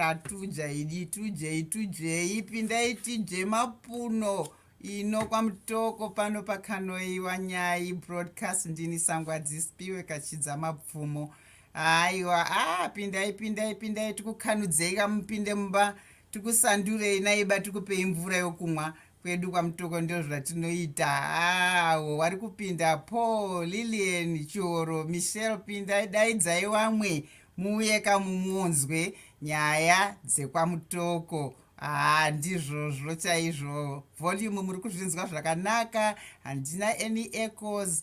tatujai ditujei tujei pindai tije mapuno ino kwamutoko pano pakanoiwa nyai broadcast ndini sangwa dzispiwe kachidza mapfumo aiwa a ah, pindai pindai pindai tikukanudzei kamupinde mumba Tikusandurei naye ba tikupei mvura yokumwa kwedu kwamutoko ndozvatinoita awo wari kupinda paul lilian choro michelle pinda daidzai wamwe muuye kamumuonzwe nyaya dzekwamutoko haa ndizvozvo chaizvo volume muri kuzvinzwa zvakanaka handina any ecos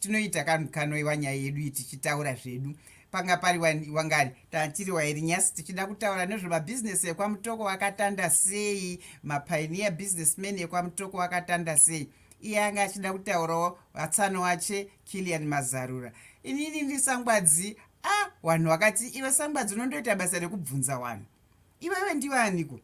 tinoita kanhu kanoiwa nyaya yedu iyi tichitaura zvedu panga pari wangari tantiri wairi nyasi tichida kutaura nezvemabhizinesi ekwamutoko wakatanda sei mapainiya businessman ekwamutoko wakatanda sei iye anga achida kutaurawo vatsano wache kilian mazarura inini ndi sangwadzi a ah, wanhu wakati iwe sangwadzi unondoita basa rekubvunza wanhu iwewe ndiwe aniko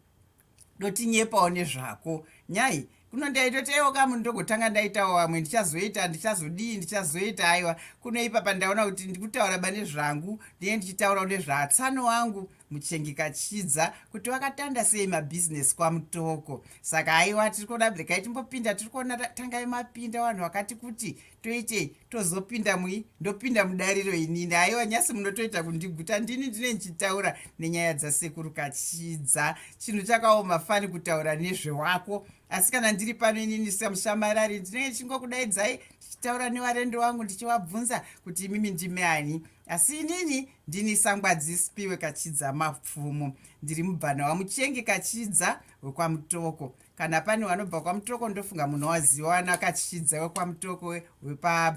dotinyepawo nezvako nhai kuno ndaitotaiwa kamu ndogotanga ndaitawo vamwe ndichazoita ndichazodii ndichazoita aiwa kuno ipapa ndaona kuti ndikutaura bane zvangu ndine ndichitaurawo nezvaatsano wangu muchengikachidza kuti wakatanda sei mabhizinesi kwamutoko saka aiwa tiri kuona blekai timbopinda tiri kuona tangai mapinda vanhu vakati kuti toitei tozopinda mui ndopinda mudariro inini aiwa nyasi munotoita kundiguta ndini ndine ndichitaura nenyaya dzasekuru kachidza chinhu chakaoma fani kutaura nezvewako asi kana ndiri pano inini samushamarari ndinenge ndichingokudaidzai ndichitaura nevarendo wangu ndichivabvunza kuti imimi ndime ani asi inini ndini sangwadzi spiwe kachidza mapfumo ndiri mubvana wamuchenge kachidza wekwamutoko kana pane wanobva kwamutoko ndofunga munhu waziva wana akachishidza wekwamutoko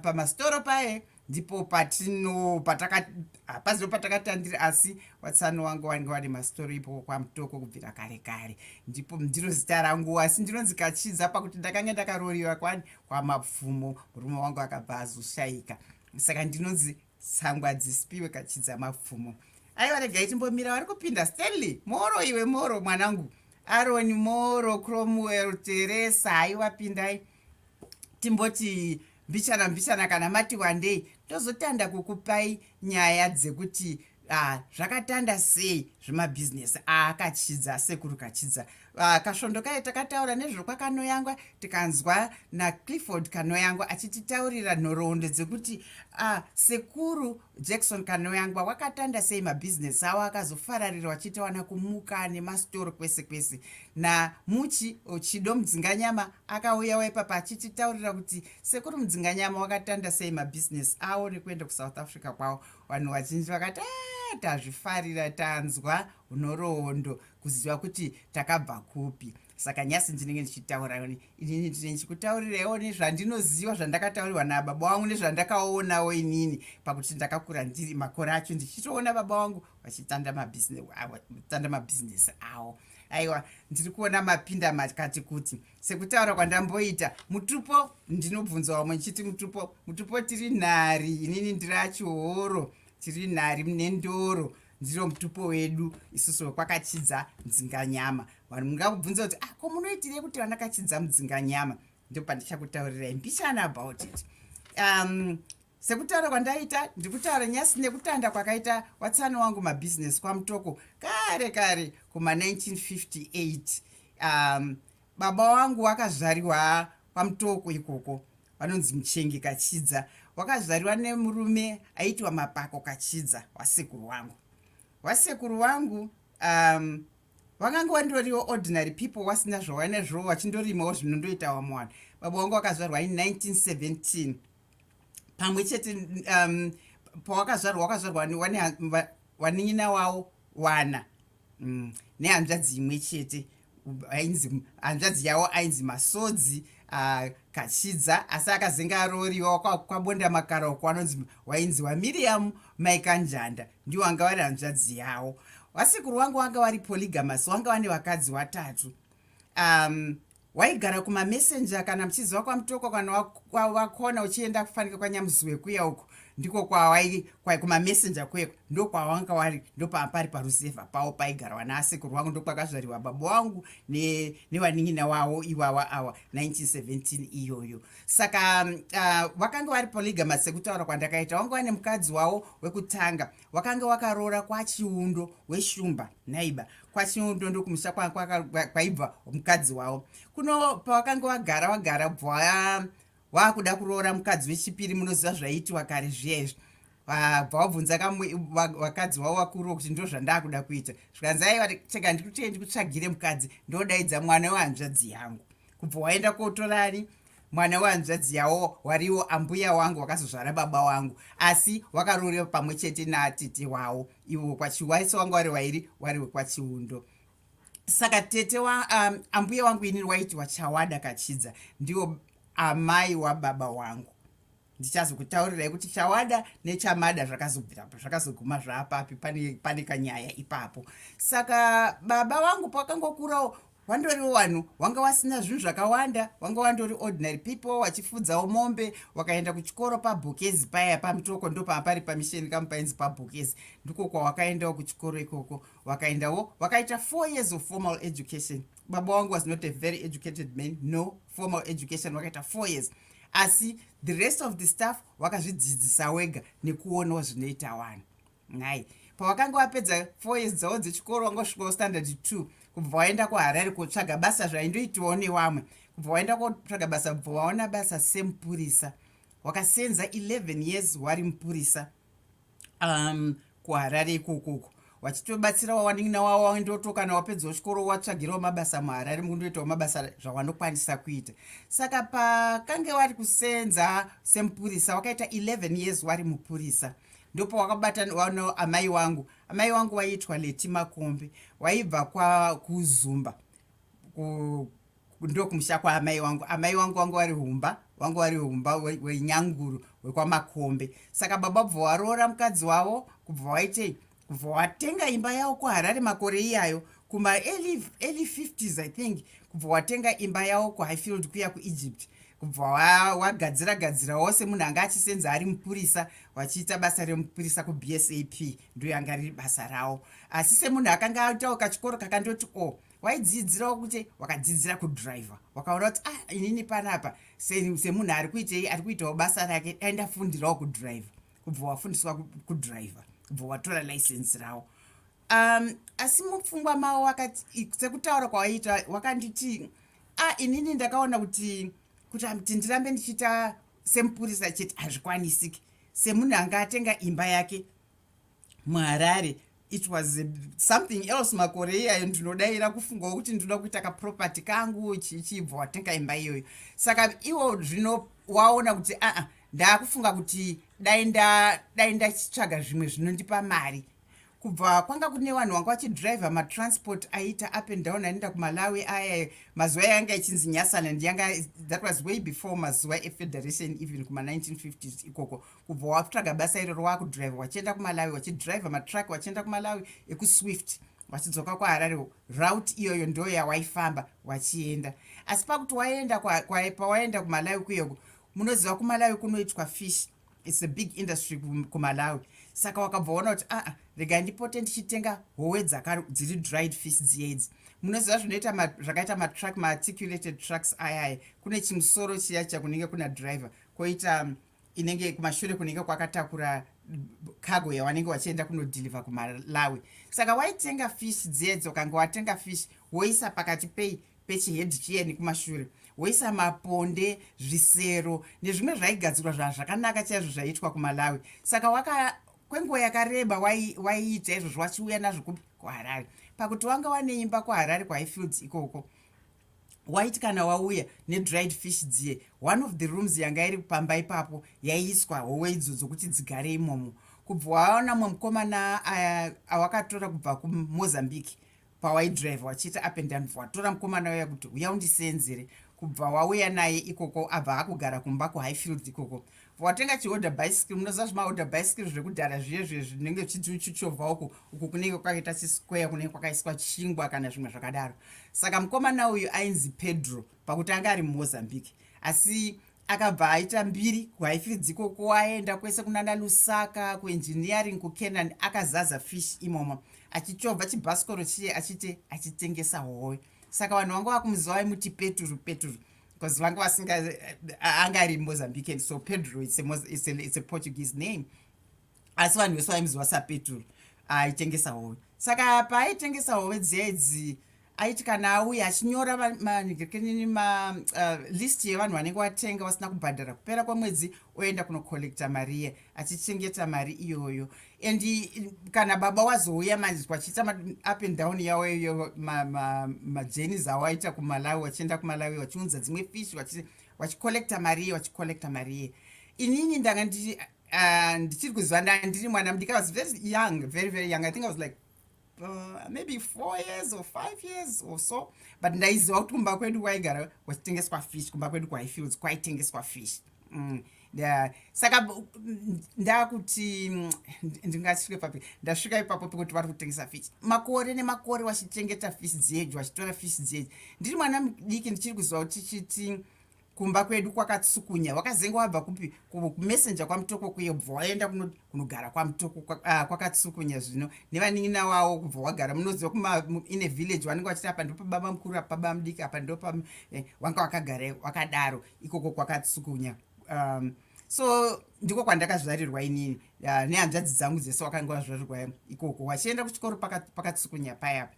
pamasitoro pa, paye ndipo patino pataka hapazivo patakatandiri asi watsano wangu wange wari masitoro ipoko kwamutoko kubvira kare kare ndipo ndiro zita rangu asi ndinonzi kachidza pakuti ndakange ndakarooriwa kwani kwamabvumo murume wangu akabva azoshayika saka ndinonzi tsangu hadzisipiwe kachidza mapfumo aiwa regai timbomira wari kupinda stanley moro iwe moro mwanangu aroni moro cromwell teresa aiwa pindai timboti mbichana mbichana kana mati wandei ndozotanda kukupai nyaya dzekuti ah, zvakatanda sei zvemabhizinesi aakachidza ah, sekuru kachidza Ah, kasvondo kaye takataura nezvokwakanoyangwa tikanzwa naclifford kanoyangwa achititaurira nhoroondo dzekuti ah, sekuru jackson kanoyangwa wakatanda sei mabhizinesi awo akazofararira wachitawana kumuka nemastoro kwese kwese namuchi chido mudzinganyama akauya waipapa achititaurira kuti sekuru mudzinganyama wakatanda sei mabhizinesi awo nekuenda kusouth africa kwawo vanhu vazhinji vakati ah, tazvifarira tanzwa nhoroondo kuziva kuti takabva kupi saka nyasi ndinenge ndichitaura ini ndine ndichikutaurirewo nezvandinoziva zvandakataurirwa nababa wangu nezvandakaonawo inini pakuti ndakakura ndiri makore acho ndichitoona baba wangu vachitanda mabhizinesi avo aiwa ndiri kuona mapinda makati kuti sekutaura kwandamboita mutupo ndinobvunza wamwe ndichiti mutupo mutupo tiri nhari inini ndiri achihoro tiri nhari mune ndoro ndiro mutupo wedu isusu wekwakachidza mudzinganyama vanhu mungakubvunza kuti ah ko munoitirei kuti vandakachidza mudzinganyama ndo pandichakutaurirai mbichana about it um, sekutaura kwandaita ndiri kutaura nyasi nekutanda kwakaita watsano wangu mabhizinesi kwamutoko kare kare kuma 1958 um, Baba wangu wakazvariwa kwaMutoko ikoko vanonzi Muchenge Kachidza. Wakazvariwa nemurume aitwa Mapako Kachidza wasekuru wangu. Wasekuru wangu um, vakanga vandoriwo ordinary people wasina zvawaina zvo vachindorimawo zvinondoita wamwe vanhu baba wangu wakazvarwa in 1917 pamwe chete um, pawakazvarwa wakazvarwa wanin'ina wawo wana mm, nehanzvadzi imwe chete ainzi hanzvadzi yavo ainzi masodzi uh, kachidza asi akazenge arooriwa kwabonda makara uko anonzi wainzi wamiriam maikanjanda ndiwo anga vari hanzvadzi yavo wasekuru wangu wanga wari polygamas wanga vane vakadzi watatu um, waigara kumamessenger kana muchiziva kwamutoko kana wakona uchienda kufanika kwanyamuziwe kuya uko wa ndiko kwawai kwai kumamessenger kweko ndokwawanga wari ndopapari parusevha pawo paigarwa naasekuru wangu ndokwakazvariwa baba wangu nevanin'ina ne wawo iwawa awa 1917 iyoyo saka uh, mm, vakanga vari polygamas sekutaura kwandakaita wanga wane mukadzi wawo wekutanga wakanga wakaroora kwachiundo weshumba naiba kwachiundo ndokumusha kwaibva mukadzi wawo kuno pawakanga wagara wagara bvaa waakuda kuroora mukadzi wechipiri munoziva zvaiitiwa kare zviya izvi vabva wabvunza vakadzi vavo vakuruwo kuti ndo zvandaakuda kuita zvikanzi aiwa chega ndikutee ndikutsvagire mukadzi ndodaidza mwana wehanzvadzi yangu kubva waenda kotorani mwana wehanzvadzi yawo wariwo ambuya wangu wakazozvara baba wangu asi wakarorewa pamwe chete natete wawo ivo kwachiwaisa wanga wari wairi wari wekwachiundo saka tete wa um, ambuya wangu ini waiti wachawada kachidza ndiwo amai wababa wangu ndichazokutaurirai kuti chawada nechamada zvakazoguma zvaapapi pane, pane kanyaya ipapo saka baba wangu pakangokurawo wandori wanhu wanga wasina zvinhu zvakawanda wanga wandori ordinary people wachifudzawo mombe wakaenda kuchikoro pabhokezi paya pamutoko ndopaa pari pamisheni kamupainzi pabhokezi ndiko kwawakaendawo kuchikoro ikoko kwa wakaendawo wakaita four years of formal education baba wangu was not a very educated man no formal education wakaita four years asi the rest of the staff wakazvidzidzisa wega nekuonawo zvinoita wani nhai pawakanga wapedza four years dzawo dzechikoro wanga usvikawo standard two kubva waenda kuharare kotsvaga basa zvaindoitiwawo newamwe kubva waenda kotsvaga basa kubva waona basa semupurisa wakasenza 11 years wari mupurisa um, kuharare ikokoko wachitobatsira wawanin'ina wavo waindoto kana wapedzawo chikoro watsvagirawo mabasa muharare mukundoitawo mabasa zvawanokwanisa kuita saka pakange wari kusenza semupurisa wakaita 11 years wari mupurisa ndopo wakabatanawo amai wangu amai wangu waiitwa leti makombe waibva kuzumba ndokumusha kwaamai wangu amai wangu wangu vari humba wangu vari humba wenyanguru wekwamakombe saka baba bva waroora mukadzi wavo kubva waitei kubva watenga imba yavo kuharare makore iyayo kuma early 50s i think kubva watenga imba yavo kuhighfield kuya kuegypt kubva wagadzira gadzira wose munhu anga achisenza ari mupurisa vachiita basa remupurisa kubsap ndoyanga riri basa ravo asi semunhu akanga aitawo kachikoro kakandoti o oh, waidzidzirawo kuti wakadzidzira kudriver wakaona kuti ah inini panapa semunhu ari kuitei ari kuitawo basa rake dai ndafundirawo kudriver kubva wafundiswa kudriver kubva watora license rawo um asi mupfungwa mawo wakati sekutaura kwawaiita wakanditi a ah, inini ndakaona kuti kuti kuti ndirambe ndichiita semupurisa chete hazvikwanisiki semunhu anga atenga imba yake muharare it was eh, something else makore iyayo ndinodaira kufungawo kuti ndinoda kuita kaproperty kangu chichibva watenga imba iyoyo saka iwo zvino waona kuti aa ah, ah, ndaakufunga kuti dai ndadai ndachitsvaga zvimwe zvinondipa mari kubva kwanga kune vanhu vanga vachidriver matransport aiita up and down anoenda kumalawi aya mazuva yanga ichinzi nyasaland yanga that was way before mazuva efederation even kuma 1950s ikoko kubva wakutsvaga basa iroro wakudrive wachienda kumalawi wachidrive matruck wachienda kumalawi ekuswift wachidzoka kwaharare route iyoyo ndo yawaifamba wachienda asi pakuti waenda pawaenda kumalawi kuyeko munoziva kumalawi kunoitwa fish its a big industry kumalawi saka wakabva waona kuti aa ah, ah, rega ndipote ndichitenga howe dziri dried fish dziedzi munoziva zvinoita zvakaita matruck maarticulated trucks ayaya kune chimusoro chiya chakunenge kuna driver koita um, inenge kumashure kunenge kwakatakura cargo yawanenge wachienda kunodhilivha kumalawi saka waitenga fish dzedzo kange watenga fish woisa pakati pei pechihed chiyeni kumashure woisa maponde zvisero nezvimwe zvaigadzirwa zvazvakanaka chaizvo zvaiitwa kumalawi saka waka kwenguva yakareba waiita izvozvo wachiuya nazvo kuharare pakuti wanga wane imba kuharare kwahifields ikoko waiti kana wauya nedried fish dziye one of the rooms yanga iri pamba ipapo yaiiswa howe idzo dzokuti dzigare imomo kubva waona mwe mukomana awakatora kubva kumozambique pawaidrive wachiita up and down watora mukomana uya kuti uya undiseenzere kubva wauya naye ikoko abva akugara kumba kuhighfield ikoko watenga chiorder bicycle munoziva zvimaorder bicycle zvekudhara zviye zviye zvinenge zvichiti uchichovha uku uku kunenge kwakaita chisquare kunenge kwakaiswa chingwa kana zvimwe zvakadaro saka mukomana uyu ainzi pedro pakuti anga ari mumozambique asi akabva aita mbiri kuhaifidziko kuaenda kwese kunana lusaka kuengineering kucanaan akazaza fish imomo achichovha chibhasikoro chiye achiti achitengesa howe saka vanhu vanga vakumuziva vaimuti peturu peturu because vanga vasinga anga ari mozambican so pedro it's a, it's a, it's a portuguese name asi vanhu vese vaimuziva sapetro aitengesa hove saka paaitengesa hove dziya idzi aiti kana auye achinyora manhikirikini malist uh, yevanhu vanenge watenga vasina kubhadhara kupera kwemwedzi oenda kunocollecta mariye achichengeta mari iyoyo and kana baba wazouya manzwa achiita up and down yawo iyo majenis ma, ma, awaita kumalawi wachienda kumalawi wachiunza dzimwe fish wachicollecta mari iye wachicollecta mari iye inini ndanga ndichiri uh, kuziva ndandiri mwana mudika was very young very very young i think i was like uh, maybe four years or five years or so but ndaiziva kuti kumba kwedu kwaigara kwachitengeswa fish kumba kwedu kwahifields kwaitengeswa fish mm. Yeah. saka ndakuti mm, ndingasvike papi ndasvika ipapo pekuti vari kutengesa fish makore nemakore wachichengeta fish dzedu wachitora fish dzedu ndiri mwana mudiki ndichiri kuziva kuti chiti kumba kwedu kwakatsukunya wakazenge wabva kupi kumessenje kwamutoko kuye bva waenda kunogara kwamutoko ah, kwakatsukunya zvino nevanin'ina wawo kubva wagara munoziva kumaine village wanenge wachiti apa ndipo baba mukuru apa baba mudiki apa ndopa eh, wanga wakagara wakadaro ikoko kwakatsukunya um, so ndiko kwandakazvarirwa inini uh, nehanzvadzi dzangu dzese wakanga wazvarirwa ikoko wachienda kuchikoro pakatsukunya payapa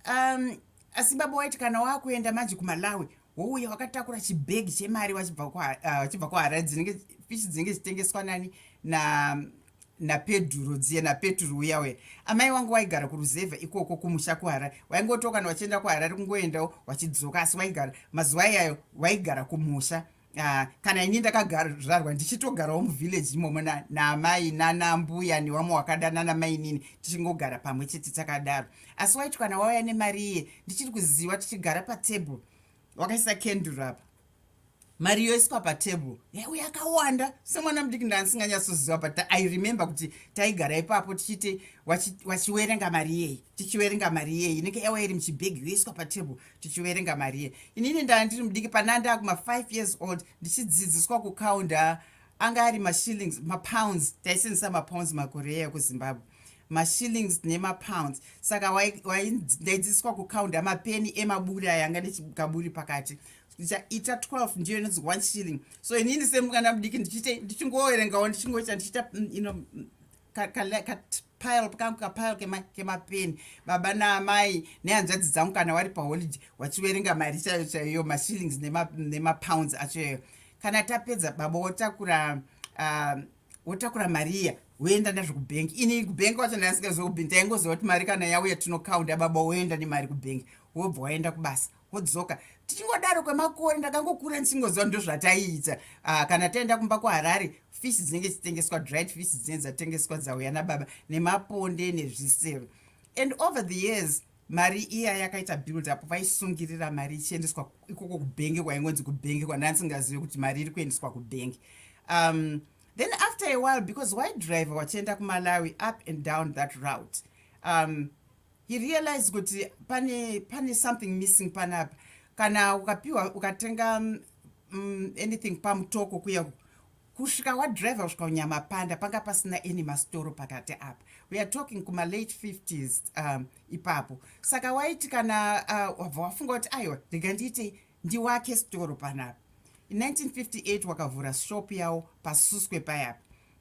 um asi baba waiti kana wakuenda manje kumalawi wouye wakatakura chibhegi chemari wachibva uh, kuharare dzinenge fishi dzinenge zvichitengeswa nani na napedhuro dziye napeturu uya uya amai wangu waigara kuruzevha ikoko kumusha kuharare waingotiwo kana wachienda kuharare kungoendawo wachidzoka asi waigara mazuva iyayo waigara kumusha Ah, kana ini ndakazvarwa ndichitogarawo muvillage imomo naamai nanambuya newamwe wakada nanamainini tichingogara pamwe chete takadaro asi waiti kana wauya nemari iye ndichiri kuziva tichigara patable wakaisa kenduru apa mari yoiswa patable yaiwe yakawanda semwana mudiki ndandisinganyatsoziva but i remember kuti taigara ipapo tichiti wachiwerenga mari iyeyi tichiwerenga mari iyeyi inenge yauya iri muchibhegi yoiswa patable tichiverenga marie inini ndanga ndiri mudiki panaa ndaa kuma5 years old ndichidzidziswa kucounda anga ari mashillings mapounds taisenzisa mapounds makore eya kuzimbabwe mashillings nemapounds saka ndaidzidziswa kucounda mapeni emaburi aya anga nekaburi pakati ndichaita 12 ndiyo inonzi one shilling so inini semwana mudiki ndichiite ndichingoerengawo ndichingoita ndichiita mm, you know, mm, pile kangu kapile kemapeni baba naamai nehanzvadzi dzangu kana wari paholiday wachiverenga mari chaiyo chaiyo mashillings nemapounds nema acho yayo kana tapedza baba wotakura uh, wotakura mariya woenda nazvo kubhengi ini kubhengi wacho ndaasingazokubhi ndaingoziva kuti mari kana yauya tinokaunda baba woenda nemari kubhengi wobva waenda kubasa vodzoka tichingodaro kwemakore ndakangokura ndisingoziva ndozvataiita ah, kana taenda kumba kuharare fish dzinenge dzichitengeswa dried fish dzinenge dzatengeswa dzauya nababa nemaponde nezvisero and over the years mari iya yakaita build up vaisungirira mari ichiendeswa ikoko kubhenge kwaingonzi kubhenge kwandandisingazive kuti mari iri kuendeswa kubhenge um, then after a while because why driver wachienda kumalawi up and down that route um, he realized kuti pane pane something missing panapa kana ukapiwa ukatenga um, anything pamutoko kuya kusvika wadriver kusvika unyama panda panga pasina any mastoro pakati apa we are talking kuma late 50s um, ipapo saka waiti kana uh, wabva wafunga kuti aiwa rega ndiitei ndiwake storo panapa 1958 wakavhura shop yawo pasuswe payapa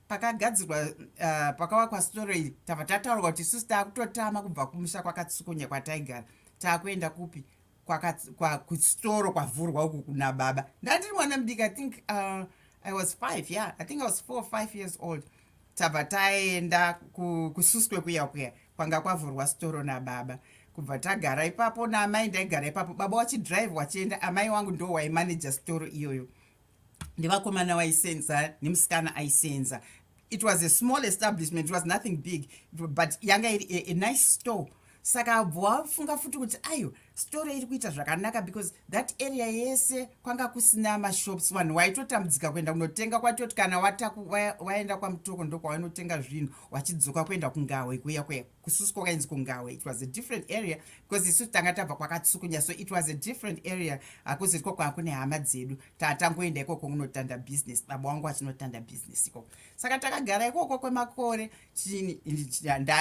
pakagadzirwa uh, pakavakwa storo iri tava tataurwa kuti susi taakutotama kubva kumusha kwakatsukunya kwataigara taakuenda kupi kwakustoro kwavhurwa uku kuna baba ndandiri mwana mudiki i think uh, i was five yeah i think i was four five years old tabva taenda kususwe kuya kuya kwanga kwavhurwa sitoro nababa kubva tagara ipapo naamai ndaigara ipapo baba wachidrive wachienda amai wangu ndo waimanaja sitoro iyoyo nevakomana vaisenza nemusikana aisenza it was a small establishment it was nothing big but yanga iri a, a nice store saka abvo wafunga futi kuti ayo store iri kuita zvakanaka because that area yese kwanga kusina mashops vanhu waitotambudzika kuenda kunotenga kwatoti kana waenda kwamutoko ndokwawainotenga zvinhu wachidzoka kuenda kungawe kuya kuya kususu kwakainzi kungawe it was a different area because isu tanga tabva kwakatsukunya so it was a different area hakuzi iko kwanga kune hama dzedu tatangoenda ikoko kunotanda business baba wangu achinotanda business ikoko saka takagara ikoko kwemakore chini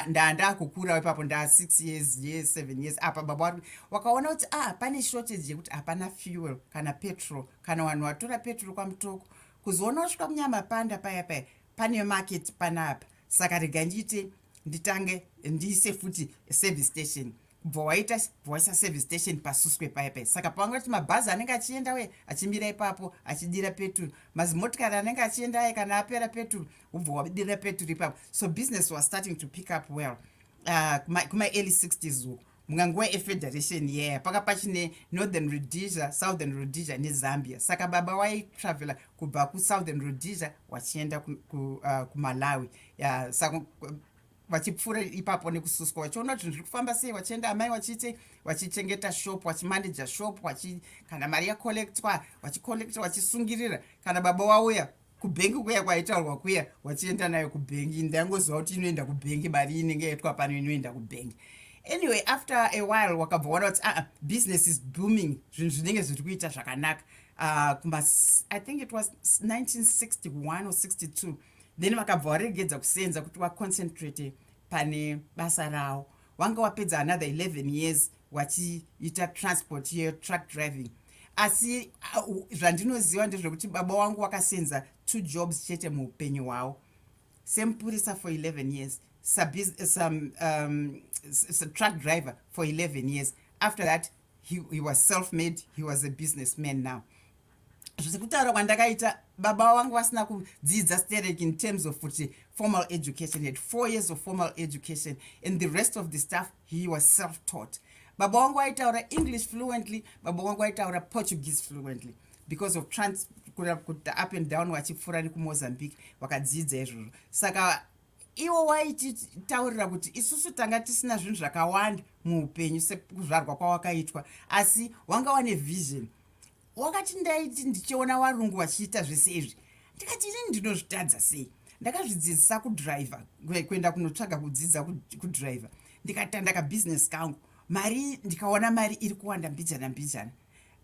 ndandakukurawo ipapo nda six years ye seven years apa baba wari wakaona kuti ah pane shortage yekuti hapana fuel kana petrol kana vanhu vatora petrol kwamutoko kuzoona kusvika munyama panda paya paya pane market panapa saka rega ndiite nditange ndiise futi service station kubva waita waisa service station pasuswe paya paya saka pavanga kuti mabhazi anenge achienda uye achimira ipapo achidira peturu mazimotikari anenge achienda aye kana apera peturu ubva wadira peturu ipapo so business was starting to pick up well uh, kumaearly 60s uko munga nguva yefederation yeya yeah. paka pachine northern rhodesia southern rhodesia nezambia saka baba waitravela kubva kusouthern rhodesia wachienda uh, kumalawi ku, uh, yeah, saka vachipfuura ipapo nekususwa vachiona kuti zvinhu zviri kufamba sei vachienda amai vachiite vachichengeta shop vachimaneja shop vachi kana mari yacollectwa vachicollecta vachisungirira kana baba wauya kubhengi kuya kwaitaurwa kuya vachienda nayo kubhengi ndangoziva kuti inoenda kubhengi mari inenge yaitwa pano inoenda kubhengi anyway after a while wakabva waona kuti aa business is booming zvinhu zvinenge zviri kuita zvakanaka uh, kuma i think it was 1961 or 62 then vakabva waregedza kusenza kuti waconcentrate pane basa rawo wanga wapedza another 11 years wachiita transport yetruck driving asi uh, zvandinoziva ndezvekuti baba wangu wakasenza two jobs chete muupenyu hwawo semupurisa for 11 years some um, truck driver for 11 years after that he, he was self made he was a business man now zvisi kutaura kwandakaita baba vangu vasina kudzidza sterek in terms of kuti formal education had four years of formal education and the rest of the stuff he was self taught baba wangu aitaura english fluently baba wangu aitaura portuguese fluently because of trans kuti up and down vachipfuura nekumozambique vakadzidza izvozvo saka iwo waititaurira kuti isusu tanga tisina zvinhu zvakawanda muupenyu sekuzvarwa kwawakaitwa asi wanga wane vision wakati ndaiti ndichiona varungu vachiita zvese izvi ndikati ini ndinozvitadza sei ndakazvidzidzisa kudriver kuenda kunotsvaga kudzidza kudriver ndikatanda kabusiness kangu mari ndikaona mari iri kuwanda mbijana mbijana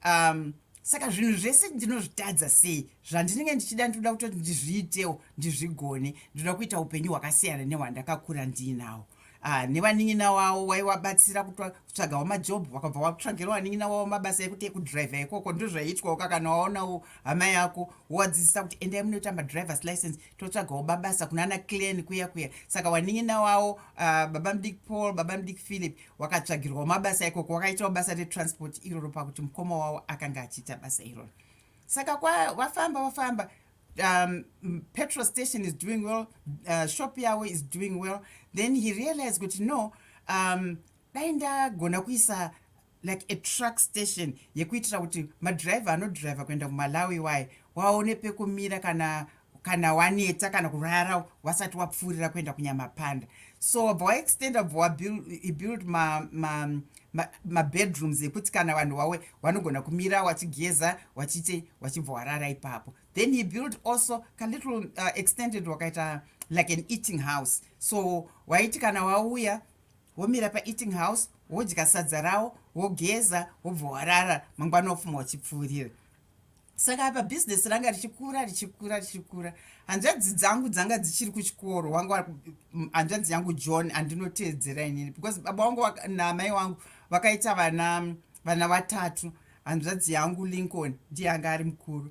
um, saka zvinhu zvese ndinozvitadza sei zvandinenge ndichida ndinoda kutoti ndizviitewo ndizvigone ndinoda kuita upenyu hwakasiyana nehwandakakura ndiinawo Ah, nevanin'ina wavo waivabatsira kutsvagawo majobhu wakabva watsvagira vanin'ina wavo mabasa ekuti ekudriver ikoko ndozvaiitwawo ka kana waonawo hama yako wowadzidzisa kuti endai munoita madrivers license totsvagawo babasa kuna ana clan kuya kuya saka vanin'ina wavo uh, ah, baba mudiki paul baba mudiki philip wakatsvagirwawo mabasa ikoko wakaitawo basa retransport iroro pakuti mukoma wavo akanga achiita basa iroro saka kwavafamba vafamba um, petrol station is doing well uh, shop yawo is doing well then he realized kuti no um, dai ndagona kuisa like a truck station yekuitira kuti madriver anodriver kuenda kumalawi waye waone pekumira kana kana waneta kana kurara wasati wapfuurira kuenda kunyamapanda so bva waextenda bva wabuild ma, ma, mabedrooms ma ekuti kana vanhu wawe wanogona kumira wachigeza wachite wachibva warara ipapo then he built also kalittle uh, extended wakaita like an eating house so waiti kana wauya womira paeating house wodya sadza rawo wogeza wobva warara mangwana ofuma wachipfuurira saka apa business ranga richikura richikura richikura hanzvadzi dzangu dzanga dzichiri kuchikoro wangu hanzvadzi yangu john andinoteedzera inini because baba wangu namai wangu vakaita vana vana vatatu hanzvadzi yangu lincoln ndiye anga ari mukuru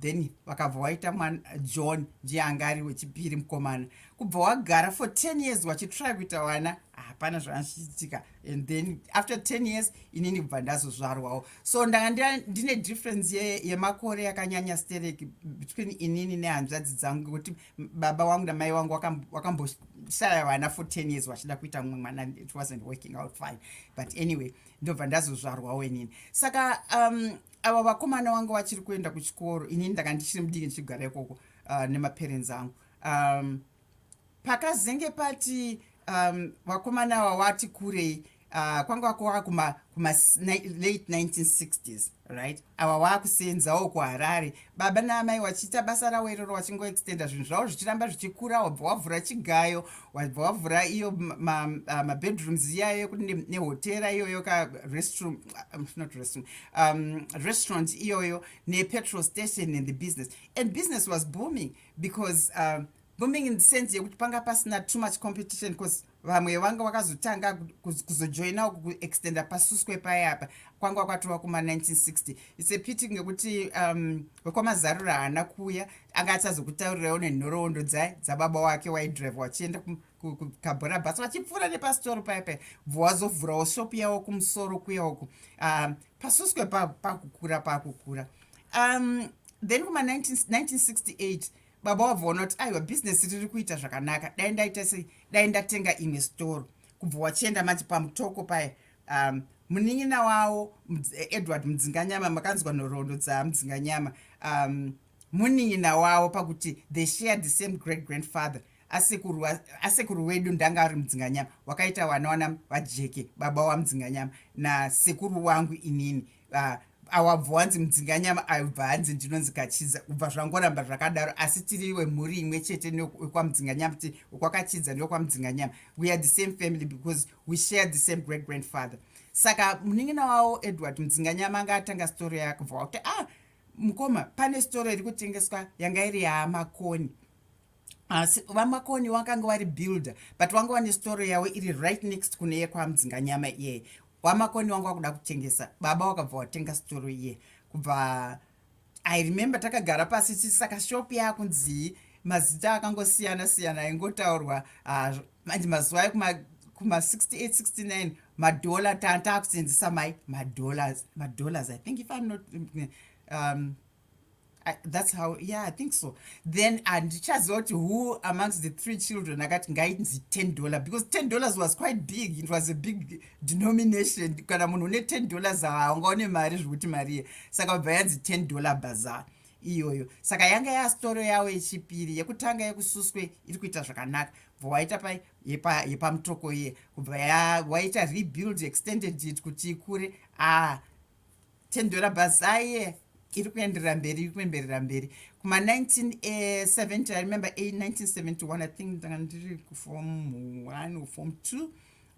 then vakabva waita mwana john ndiye anga ari wechipiri mukomana kubva wagara for 10 years wachitry kuita vana hapana zvaanochiitika and then after 10 years inini kubva ndazozvarwawo so ndanga ndine difference yemakore ye yakanyanya sterek between inini nehanzvadzi dzangu ngekuti baba wangu namai wangu wakamboshaya vana for 10 years vachida kuita mumwe mwana it wasn't working out fine but anyway ndobva ndazozvarwawo inini saka um, ava vakomana wangu vachiri kuenda kuchikoro inini ndanga ndichiri mudiki ndichigara ikoko uh, nemaparents angu um, pakazenge pati um, vakomana um, wawati kurei uh, kwanga wakowa kuma, kuma late 1960s right awa waakuseenzawo kuharare baba naamai wachiita basa ravo iroro wachingoextenda zvinhu zvavo zvichiramba zvichikura wabva wavhura chigayo wabva wavhura iyo mabedrooms ma, ma iyayo yekuti nehotera ne iyoyo ka restroom um, not restroom um, restaurant iyoyo nepetrol station and the business and business was booming because uh, booming in the sense yekuti panga pasina too much competition because vamwe vanga vakazotanga kuzojoina kuextenda pasuswe paye apa kwanga kwatova kuma1960 its a pity ngekuti um, wekwamazarura haana kuuya anga achazokutaurirawo nenhoroondo dzaye dzababa wake waidrive wachienda kukabhora bus vachipfuura nepasitoro paya paya bvo wazovhurawo shopu yawo kumusoro kuya uku um, pasuswe pakukura pa pakukura um, then kuma 1968 baba wabvoona kuti aiwa bhizinesi riri kuita zvakanaka dai ndaita sei dai ndatenga imwe sitoro kubva wachienda manje pamutoko paya um, munin'ina wawo edward mudzinganyama makanzwa nhoroondo dzamudzinganyama um, munin'ina wavo pakuti they shared the same great grandfather asekuru asekuru wedu ndanga ari mudzinganyama wakaita wana wana vajeke baba wamudzinganyama nasekuru wangu inini uh, awabva wanzi mudzinganyama aibva hanzi ndinonzi kachidza kubva zvangoramba zvakadaro asi tiri wemhuri imwe chete nekwamudzinganyama ti kwakachidza nekwamudzinganyama we are the same family because we share the same great grandfather saka munin'ina wawo edward mudzinganyama anga atanga story yakubva wakuti ah mukoma pane sitoro iri kutengeswa yanga iri yamakoni asi vamakoni wakanga wari builder but wanga wane sitoro yavo iri right next kune yekwamdzinga nyama iyeyi wamakoni wanga wakuda kutengesa baba wakabva watenga sitoro iye kubva i remember takagara pasi chii saka shop yakunzii mazita akangosiyana siyana aingotaurwa ah, manje mazuva ayo kuma 68 69 madollar taakuseenzesa mai madollars madollars i think if i'm not um, I, that's how yeah i think so then andichaziva kuti who amongst the three children akati ngainzi ten dollar because ten dollars was quite big it was a big denomination kana munhu une ten dollars haungaone mari zvekuti mariye saka bva yanzi ten dollar bazar iyoyo saka yanga yastoro yawo yechipiri yekutanga yekususwe iri kuita zvakanaka bva waita pai yepamutoko iye kubva waita rebuild extended it kuti ikure a tendora bhazaye iri kuenderera mberi iri kuenderera mberi kuma 1970 i remember 1971 i think ndanga ndiri kufom one or form two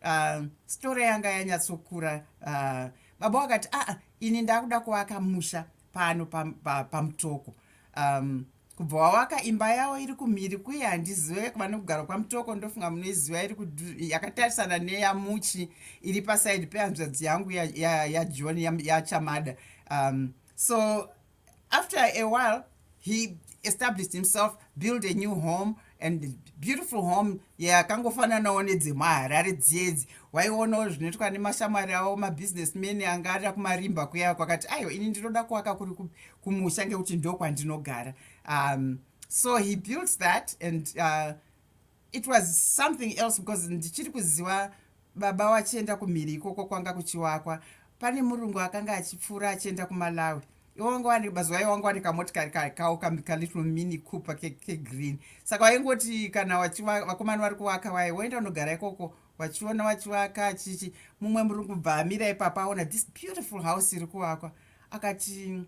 uh, story yanga yanyatsokura uh, baba wakati aa ah, ah, ini ndakuda kuvaka musha pano pamutoko pa, pa um, kubva wawaka imba yawo iri kumhiri kuye handizive vane kugara kwamutoko ndofunga munoiziva iri yakatarisana neyamuchi iri pasaidi pehanzvadzi yangu yajohn ya, ya, ya yachamada um, so after a while he established himself build a new home and beautiful home yakangofananawo yeah, nedzemaharare dziyedzi waionawo zvinoitwa nemashamwari avo mabusiness man anga ari kumarimba kuya kwakati aiwa ini ndinoda kuwaka kuri kumusha ngekuti ndokwandinogara um, so he built that and uh, it was something else because ndichiri kuziva baba wachienda kumhiri ikoko kwanga kuchiwakwa pane murungu akanga achipfuura achienda kumalawi iwangowanikbazuva iwangowanika motikari kawo kalittle mini cooper kegreen ke saka waingoti kana vakomani vari kuvaka vaye woenda unogara ikoko wachiona wachivaka achichi mumwe murungu bva amira ipapa aona this beautiful house iri kuvakwa akati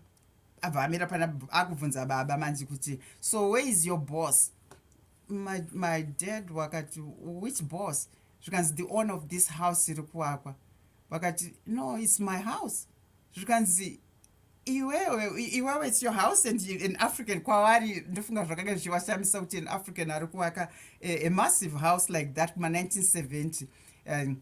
abva amira pana akubvunza baba manzi kuti so where is your boss my, my dad wakati which boss zvikanzi the owner of this house iri kuwakwa vakati no its my house zvikanzi iwewe iwewe its your house and an african kwavari ndofunga zvakanga zvichivashamisa kuti an african ari kuvaka a, a massive house like that kuma 1970 um,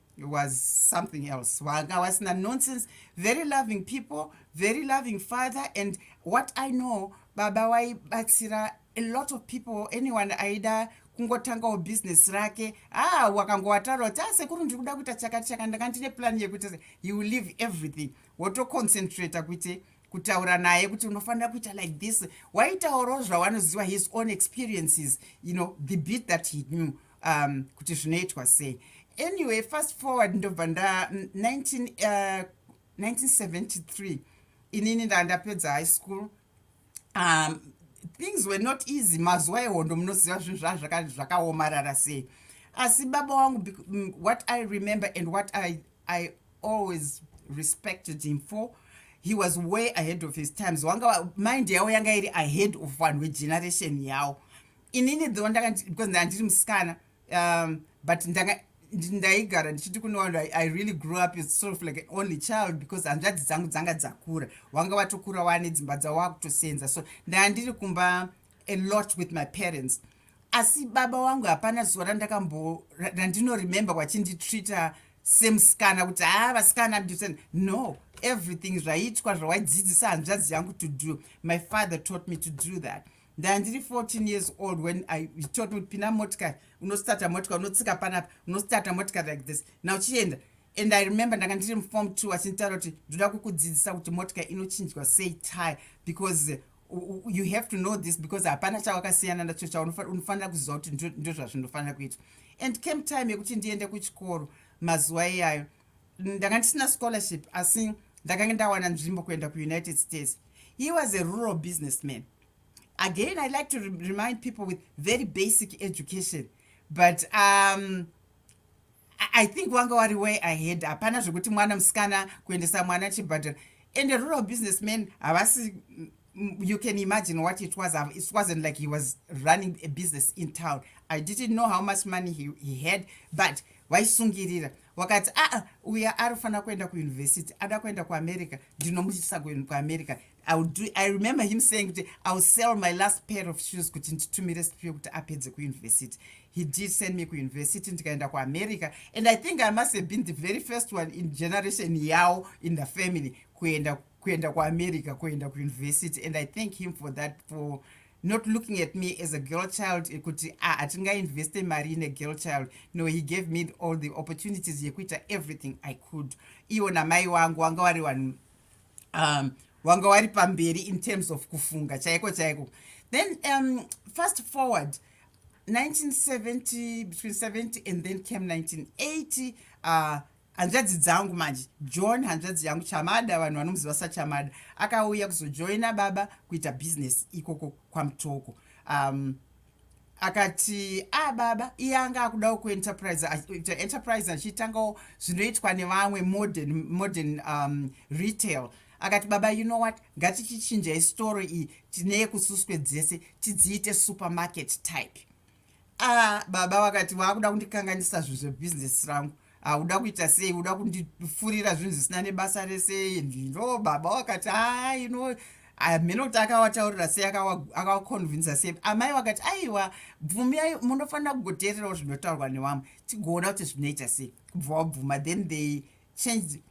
it was something else wanga wasina nonsense very loving people very loving father and what i know baba waibatsira a lot of people anyone aida kungotangawo business rake ah wakangowataura kuti ah sekuru ndiri kuda kuita chakati chaka ndanga ndine plan yekuti he will leave everything wotoconcentrata kuite kutaura naye kuti unofanira kuita like this waitaurawo zvawanoziva his own experiences you know the beat that he knew um, kuti zvinoitwa sei anyway fast forward ndobva nda 19, uh, 1973 inini ndaa ndapedza high school um, things were not easy mazuva ehondo munoziva zvinhu zvaa zvakaomarara sei asi baba wangu mm, what i remember and what i, I always respected him for he was way ahead of his times wanga mind yavo yanga iri ahead of vanhu vegeneration yavo inini though ndanga because ndanga ndiri musikana um, but ndanga ndaigara ndichiti kunowanhu i really grew up as sort of like an only child because hanzvadzi dzangu dzanga dzakura wanga watokura wane dzimba dzavo wakutosenza so ndanga ndiri kumba a lot with my parents asi baba wangu hapana zuva randakambo randinoremember wachinditreata semusikana kuti haa ah, vasikana mdisen no everything zvaiitwa zvawaidzidzisa hanzvadzi yangu to do my father taught me to do that ndandiri 14 years old when i taught me pina motikari unostarta motikari unotsika panapa unostarta motikari like this na uchienda and i remember ndanga ndiri mufom two achinditaura kuti ndoda kukudzidzisa kuti motikari inochinjwa sei tire because you have to know this because hapana chawakasiyana nacho chaunofanira kuziva kuti ndozvazvinofanira kuitwa and came time yekuti ndiende kuchikoro mazuva iyayo ndanga ndisina scholarship asi ndakange ndawana nzvimbo kuenda kuunited states he was a rural businessman again i like to remind people with very basic education but um, i think wanga wari way ahead hapana zvekuti mwana musikana kuendesa mwana chibhadhara and a rural businessman havasi you can imagine what it was it wasn't like he was running a business in town i didn't know how much money he, he had but vaisungirira right? wakati aa uya ari kufanira kuenda kuuniversity ada kuenda kuamerica ndinomuitisa kuamerica i remember him saying kuti iwill sell my last pair of shoes kuti nditumire sipio kuti apedze kuuniversity he did send me kuuniversity ndikaenda kuamerica and i think i must have been the very first one in generation yawo in the family kuenda kuenda kuamerica kuenda kuuniversity and i thank him for that for not looking at me as a girl child ekuti ah, hatingainveste mari ine girl child no he gave me all the opportunities yekuita everything i could iwo namai wangu wanga wari vanhu um, wanga wari pamberi in terms of kufunga chaiko chaiko then um, fast forward 1970 between 70 and then came 1980 uh, hanzvadzi dzangu manje john hanzvadzi yangu chamada vanhu vanomuziva sachamada akauya kuzojoina baba kuita bhizinesi ikoko kwamutoko um, akati a ah, baba iye anga akudawo kuenterprise ita enterprise achiitangawo zvinoitwa nevamwe modern modern um, retail akati baba you know what ngatichichinja istoro iyi tine yekususwe dzese tidziite supermarket type ah baba vakati waakuda kundikanganisa zvinhu zvebusiness rangu hauda kuita sei uda kundifurira zvinhu zvisina nebasa rese ndino baba wakati haa ino hameno kuti akawataurira sei akawakonvinsa sei amai vakati aiwa bvumiyai munofanira kugoteererawo zvinotaurwa newamwe tigoona kuti zvinoita sei kubva wabvuma then they changed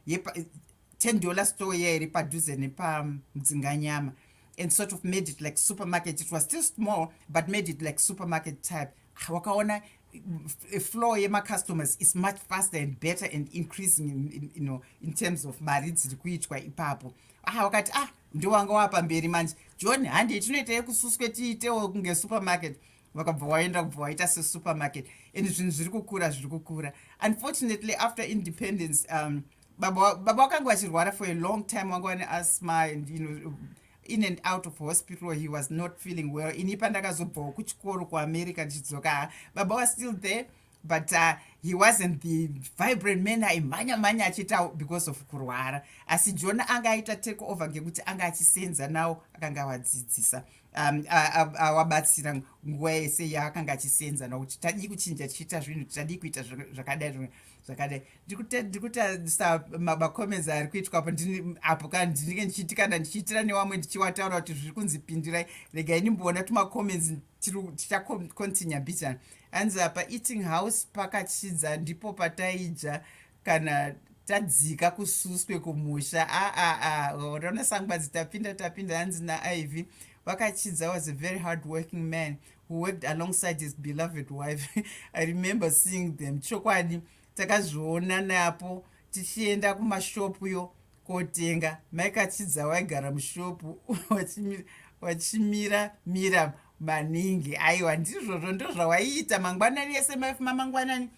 10 dollar store iya iri padhuze nepamdzinganyama and sort of made it like supermarket it was still small but made it like supermarket type ah, wakaona eh, flow yemacustomers is much faster and better and increasing in, in, you know, in terms of mari dziri kuitwa ipapo ah wakati ah ndowanga wapamberi manje john handei tinoita yekususwe tiitewo kunge supermarket vakabva waenda kubva waita sesupermarket and zvinhu zviri kukura zviri kukura unfortunately after independence um, baba baba wakanga vachirwara for a long time wanga wane asthma and you know in and out of hospital he was not feeling well ini pandakazobvawo kuchikoro kuamerica ndichidzoka baba was still there but uh, he wasn't the vibrant man aimhanya mhanya achiita because of kurwara asi jona anga aita take over ngekuti anga achisenza nawo akanga avadzidzisa um, awabatsira uh, uh, uh, nguva yese yaakanga achisenza nakuti tadii kuchinja tichiita zvinhu tadii kuita zvakadai zvakadai zvakadai ndikutarisa macomments ari kuitwa apo apo ka ndinenge ndichiiti kana ndichiitira newamwe ndichiwataura kuti zviri kunzi pindirai regai ndimboona tumacomments tichacontinue bitan anzi apa eating house pakachidza ndipo pataidya kana tadzika kususwe kumusha aaa rona sangwadzi tapinda tapinda hanzi naiv vakachidza was a very hard working man who worked alongside his beloved wife i remember seeing them chokwadi takazviona napo tichienda kumashopu yo kotenga maikachidza waigara mushopu wachimira mira maningi aiwa ndizvozvo ndozvawaiita mangwanani ese maifu mamangwanani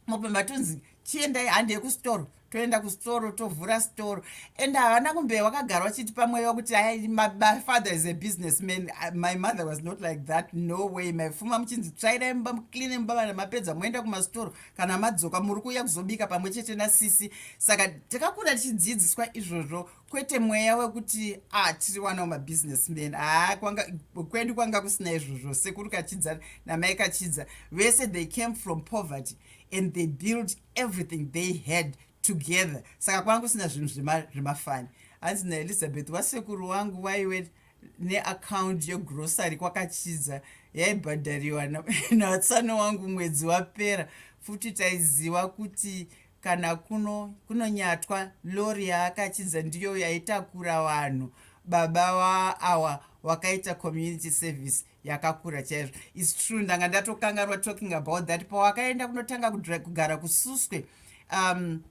mopemba tonzi chiendai handi yekusitoro toenda kusitoro tovhura sitoro and havana kumbe wakagara wachiti pamweya kuti my father is a business man my mother was not like that no way maifuma muchinzi tsvairai mumba mucline mumba vana mapedza moenda kumasitoro kana madzoka muri kuuya kuzobika pamwe chete nasisi saka takakura tichidzidziswa izvozvo kwete mweya wekuti ah tiri wanawo mabusiness men haa kwanga kwedu kwanga kusina izvozvo sekuru kachidza namai kachidza vese they came from poverty and they built everything they had together saka kwanga kusina zvinhu zvemafani hanzi naelizabeth wasekuru wangu waiwe neakaundi yegrosary kwakachidza yaibhadhariwa natsano wangu mwedzi wapera futi taiziva kuti kana kuno kunonyatwa lori yaakachinza ndiyo yaitakura vanhu baba wa awa wakaita community service yakakura chaizvo is true ndanga ndatokangarwa talking about that pawakaenda kunotanga kugara kususwe um,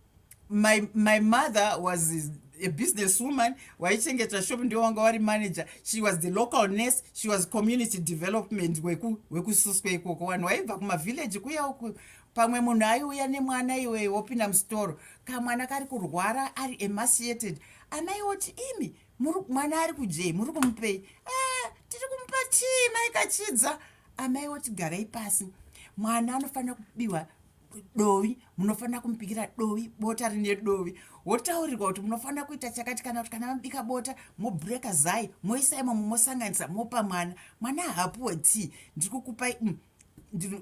my, my mother was a business woman waichengeta shop ndiwo wanga wari manager she was the local nurse she was community development wekususwa weku ikoko vanhu waibva kumavillage kuya uku pamwe munhu aiuya nemwana iwee wopinda musitoro kamwana kari kurwara ari emaciated amai woti imi mwana ari kudyei muri kumupei ah, tiri kumupa chii mai kachidza amai woti garai pasi mwana anofanira kubiwa dovi munofanira kumubikira dovi bota rine dovi wotaurirwa kuti munofanira kuita chakati kana kuti kana mabika bota mobreaka zai moisa imomo mosanganisa mopa mwana mwana haapuwe tii ndiri kukupai mm,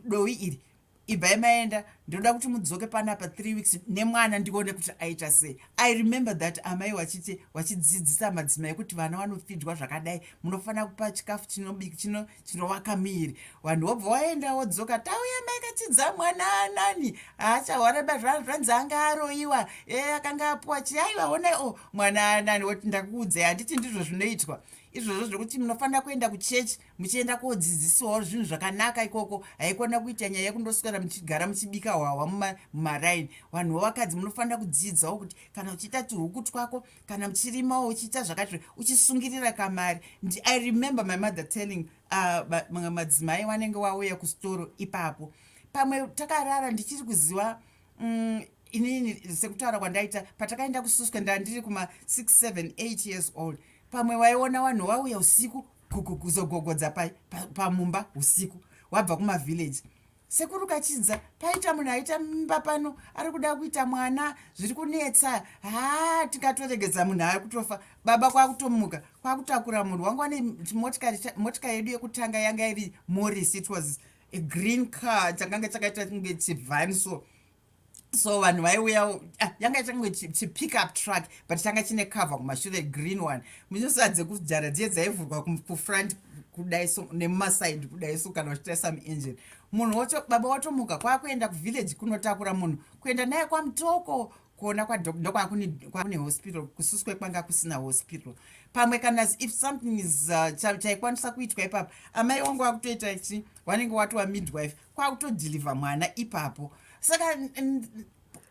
dovi iri ibvai maenda ndinoda kuti mudzoke pana pa three weeks nemwana ndione kuti aita sei i remember that amai wachiti wachidzidzisa madzimai kuti vana vanofidwa zvakadai munofanira kupa chikafu chinobiki chino chinovaka miiri vanhu wobva waenda wodzoka tauya maikatidza mwana anani aachahwareba zvanhu zvanzi anga aroyiwa e akanga apuwa chiaiwa honai o oh, mwana anani woti ndakuudzai handiti ndizvo zvinoitwa izvozvo zvekuti munofanira kuenda kuchechi muchienda kodzidzisiwawo zvinhu zvakanaka ikoko haikona kuita nyaya yekundoswera muchigara muchibika hwahwa mumaraini vanhuwo vakadzi munofanira kudzidzawo kuti kana uchiita tuhuku twako kana muchirimawo uchiita zvakati uchisungirira kamari i remember my mother telling uh, madzimai wanenge wauya kusitoro ipapo pamwe takarara ndichiri kuziva mm, inini sekutaura kwandaita patakaenda kususwa ndandiri kuma 6 7 8 years old pamwe waiona vanhu vauya usiku kuzogogodza pamumba usiku wabva kumavhillaji sekuru kachinza paita munhu aita mimba pano ari kuda kuita mwana zviri kunetsa haa tikatoregedza munhu ava kutofa baba kwakutomuka kwakutakura munhu wangu ane motika yedu yekutanga yanga iri moris it was a green car chakanga chakaita kunge chivhani so so vanhu vaiuya ah, yanga ichange chipick up truck but changa chine cover kumashure green one muchinosaa dzekujara dziye dzaivhurwa kufront kudai so nemumaside kudai so kana vachiita some engine munhu wacho baba watomuka kwakuenda kuvillage kunotakura munhu kuenda naye kwamutoko kuona kwadokwaakune hospital kususwe kwanga kusina hospital pamwe kana if something is uh, chaikwanisa kuitwa ipapa amai wangu wakutoita chi wanenge watova midwife kwakutodeliver mwana ipapo saka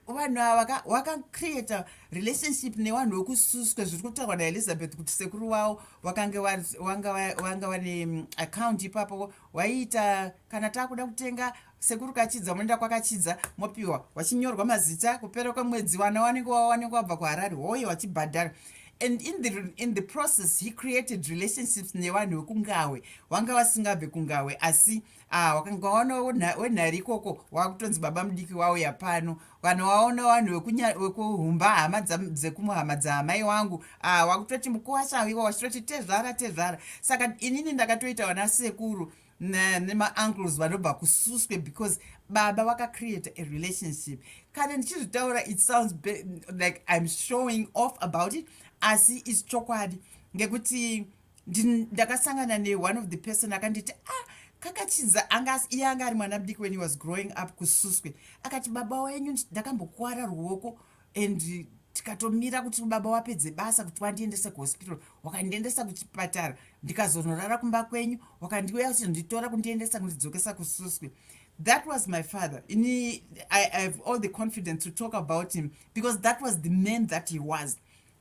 vanhu ava wakacreata relationship nevanhu vekususwe zviri kutaurwa naelizabeth kuti sekuru wavo wakange wanga vane mm, account ipapo waiita kana taakuda kutenga sekuru kachidza moenda kwakachidza mopiwa wachinyorwa mazita kupera kwemwedzi vana wanenge wawanenge wabva kuharari hoye wachibhadhara and in the, in the process he created relationships nevanhu vekungahwe vanga vasingabve kungahwe asi ah wakanga waona wenhari ikoko wakutonzi baba mudiki wauya pano kana waona vanhu vekuhumba hama dzekumuhama dzaamai wangu ah wakutoti mukuwasha iwa wachitoti tezvara tezvara saka inini ndakatoita vana sekuru nemaancles vanobva kususwe because baba vakacreata a relationship kana ndichizvitaura it sounds like im showing off about it asi its chokwadi ngekuti ndakasangana ne one of the person akanditi ah kakachinza anga iye anga ari mwana mudiki when he was growing up kususwe akati baba wenyu ndakambokuwara ruoko and tikatomira kuti baba wapedze basa kuti wandiendese kuhospital wakandiendesa kuchipatara ndikazonorara kumba kwenyu wakandiuya kuchinditora kundiendesa kundidzokesa kususwe that was my father ini i have all the confidence to talk about him because that was the man that he was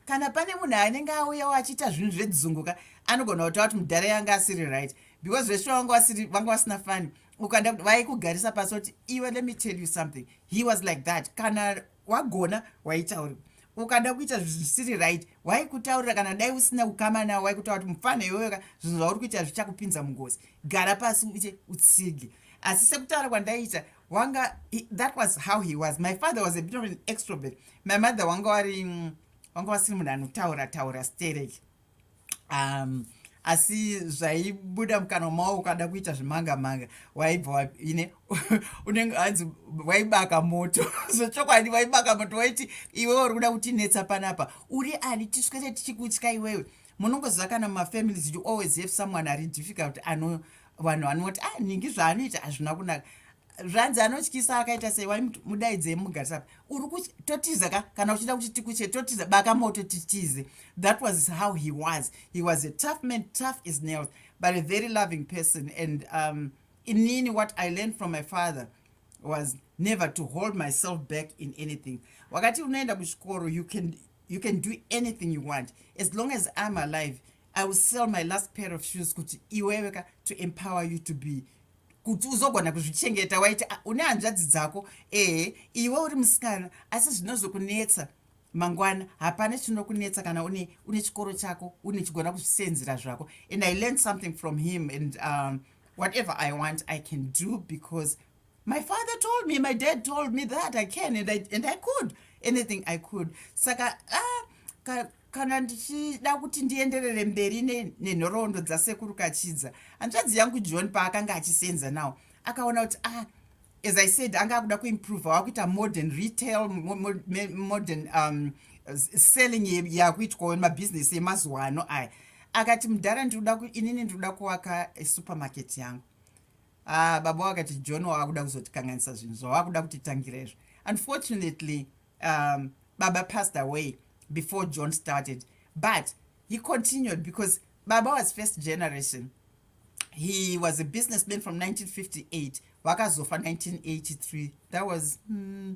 kana pane munhu anenge auyawo achiita zvinhu zvedzunguka anogona kutaura kuti mudhara yanga asiri right because veshure vanga vasiri vanga vasina fani ukanda kuti vaikugarisa pasi kuti iwe let me tell you something he was like that kana wagona waitauri ukada kuita zvisiri right waikutaurira kana dai usina kukama nawo waikutaura kuti mufana iweyoka zvinhu zvauri kuita zvichakupinza mungozi gara pasi uite utsige asi sekutaura kwandaiita wanga he, that was how he was my father was a bit of an extrovert my mother wanga wari mm, wanga wasiri munhu anotaura taura sterek um, asi zvaibuda mukanwa mawo ukada kuita zvemanga manga waibva ine unenge anzi waibaka moto zvechokwadi waibaka moto waiti iwewe uri kuda kutinetsa panapa uri ani tiswere tichikutya iwewe munongoziva kana mafamilies you always have someone ari difficult ano vanhu vanoti ah ningi zvaanoita hazvina kunaka zvanzi anotyisa akaita sei wai mudaidzei mugarisapa uri kuti totiza ka kana uchida kuti tikuche totiza baka moto titize that was how he was he was a tough man tough is nails but a very loving person and um, inini what i learned from my father was never to hold myself back in anything wakati unoenda kuchikoro you can you can do anything you want as long as iam alive i will sell my last pair of shoes kuti iweweka to empower you to be kuti uzogona kuzvichengeta waiti ah, une hanzvadzi dzako ehe iwe uri musikana asi zvinozokunetsa mangwana hapana chinokunetsa kana une, une chikoro chako une chigona kuzvisenzera zvako and i learned something from him and um, whatever i want i can do because my father told me my dad told me that i can and i, and I could anything i could saka ah, ka, kana ndichida kuti ndienderere mberi nenhoroondo dzasekuru kachidza hanzvadzi yangu john paakanga achisenza nawo akaona kuti ah, as i said anga akuda kuimprove wakuita modern retail modern um, selling yakuitwawo mabhizinesi emazuva ano aya akati mudhara inini ndikuda kuvaka supermarket yangu Ah, baba vakati John wavakuda kuzotikanganisa zvinhu zvavakuda kutitangira izvo. Unfortunately, um, baba passed away before John started. But he continued because baba was first generation. He was a businessman from 1958. Vakazofa 1983. That was mm,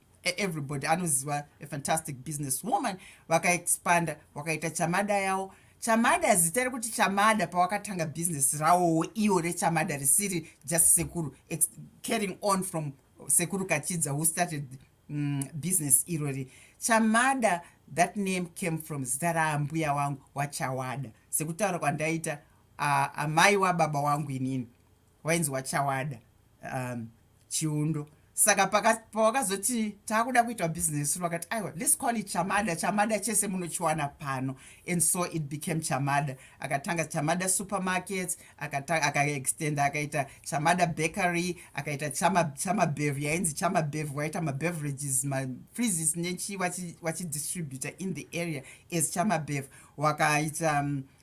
everybody anoziva a fantastic business woman vakaexpanda vakaita chamada yawo chamada zita rekuti chamada pawakatanga business rawowo iwo rechamada risiri just sekuru carrying on from sekuru kachidza who started mm, business irori chamada that name came from zita raambuya wangu wachawada sekutaura kwandaita uh, amai wababa wangu inini wainzi wachawada um, chiundo saka pawakazoti taakuda kuitwa business vakati aiwa let's call it chamada chamada chese munochiwana pano and so it became chamada akatanga chamada supermarkets akaextenda aka akaita chamada bakery akaita chamabev yainzi chamabev waita mabeverages mafreezes nechii wachidistributor in the area as chamabev wakaita um,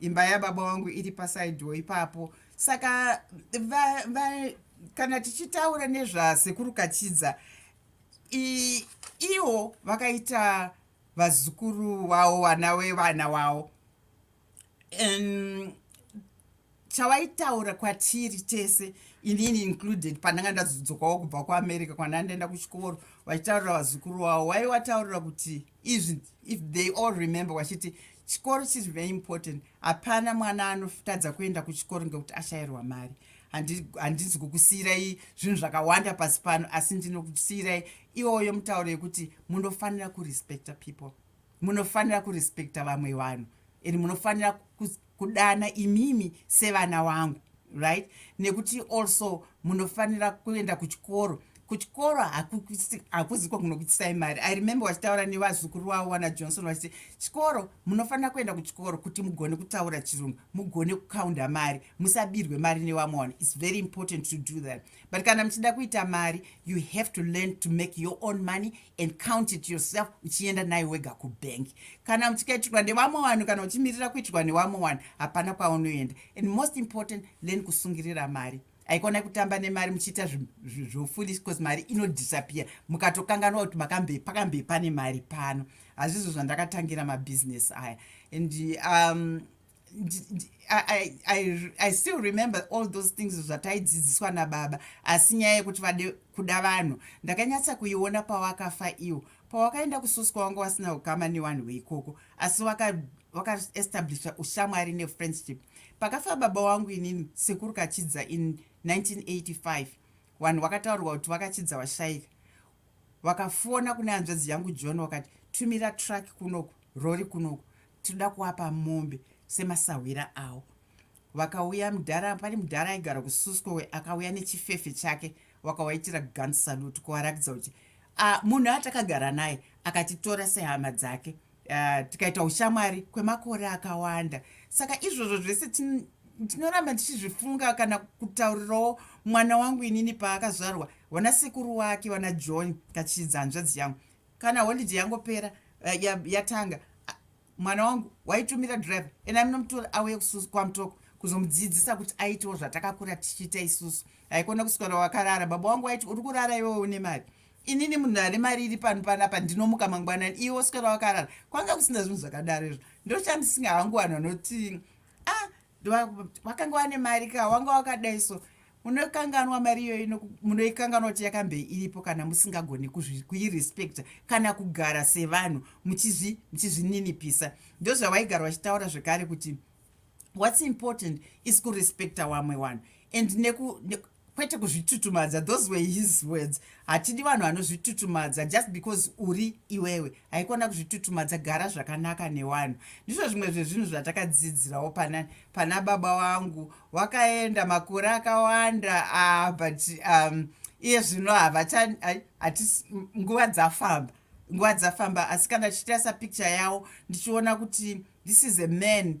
imba yababa wangu iri pasaidhiwo ipapo saka va, va, kana tichitaura nezvasekuru kachidza iwo vakaita vazukuru vavo vana vevana vavo chavaitaura kwatiri tese inini included pandanga ndazodzokawo kubva kuamerica kwandanga ndaenda kuchikoro vachitaurira vazukuru vavo waiwataurira kuti izvi if they all remember vachiti chikoro chiri very important hapana mwana anotadza kuenda kuchikoro ngekuti ashayirwa mari handizi kukusiyirai zvinhu zvakawanda pasi pano asi ndinokusiyirai iwoyo mutauro yekuti munofanira kurespecta people munofanira kurespecta vamwe vanhu and munofanira kudana imimi sevana wangu right nekuti also munofanira kuenda kuchikoro kuchikoro hakuziko kunokuitisai mari i remember wachitaura nevazukuru wavo wana johnson vachiti chikoro munofanira kuenda kuchikoro kuti mugone kutaura chirungu mugone kukaunda mari musabirwe mari nevamwe vanhu its very important to do that but kana muchida kuita mari you have to learn to make your own money and count it yourself uchienda nayo wega kubhengi kana uchikaitirwa nevamwe vanhu kana uchimirira kuitirwa nevamwe vanhu hapana kwaunoenda and most important learn kusungirira mari aikona kutamba nemari muchiita zvofoolish bcause mari inodisappear mukatokanganwa kuti makambe pakambe pane mari pano hazvizvo zvandakatangira mabusiness aya and um, I, I, i still remember all those things zvataidzidziswa nababa asi nyaya yekuti vade kuda vanhu ndakanyatsa kuiona pawakafa iwo pawakaenda kususwa wanga wasina ukama nevanhu veikoko asi wakaestablisha waka ushamwari nefriendship pakafa baba wangu inini sekuru kachidza in 1985 vanhu vakataurwa kuti vakachidza vashaika vakafona kune hanzvadzi yangu john wakati tumira truck kunoku rori kunoku tinoda kuapa mombe semasahwira awo vakauya mudhara pane mudhara aigara kususcowe akauya nechifefe chake wakawaitira gun salute kuvarakidza kuti munhu atakagara naye akatitora sehama dzake uh, tikaita ushamwari kwemakore akawanda saka izvozvo zvese ndinoramba ndichizvifunga kana kutaurirawo mwana wangu inini paakazvarwa vana sekuru wake vana john kachidza hanzvadzi yangu kana holidhe yangopera eh, yatanga mwana wangu waitumira driver ena minomutora auye kususu kwamutoko kuzomudzidzisa kuti aitewo zvatakakura tichiita isusu haikona kuswera wakarara baba wangu waiti uri kurara iwewe une mari inini munhu ane mari iri pano panapa ndinomuka mangwanani iwe oswera wakarara kwanga kusina zvinhu zvakadaro izvo ndochandisinga hangu vanhu vanoti a ah, wakanga wane mari ka wanga wakadai so munokanganwa mari iyoyo munoikanganwa kuti yakambe iripo kana musingagoni kuirespecta kana kugara sevanhu muchizvininipisa ndozvavaigara vachitaura zvekare kuti what's important is kurespecta wamwe wanhu and neku, neku kwete kuzvitutumadza those were his words hatidi vanhu vanozvitutumadza just because uri iwewe haikona kuzvitutumadza gara zvakanaka newanhu ndizvo zvimwe zvezvinhu zvatakadzidzirawo pana, pana baba wangu wakaenda makore akawanda uh, but um, iye zvino havacha nguva dzafamba nguva dzafamba asi kana tichitarisa picture yawo ndichiona kuti this is a man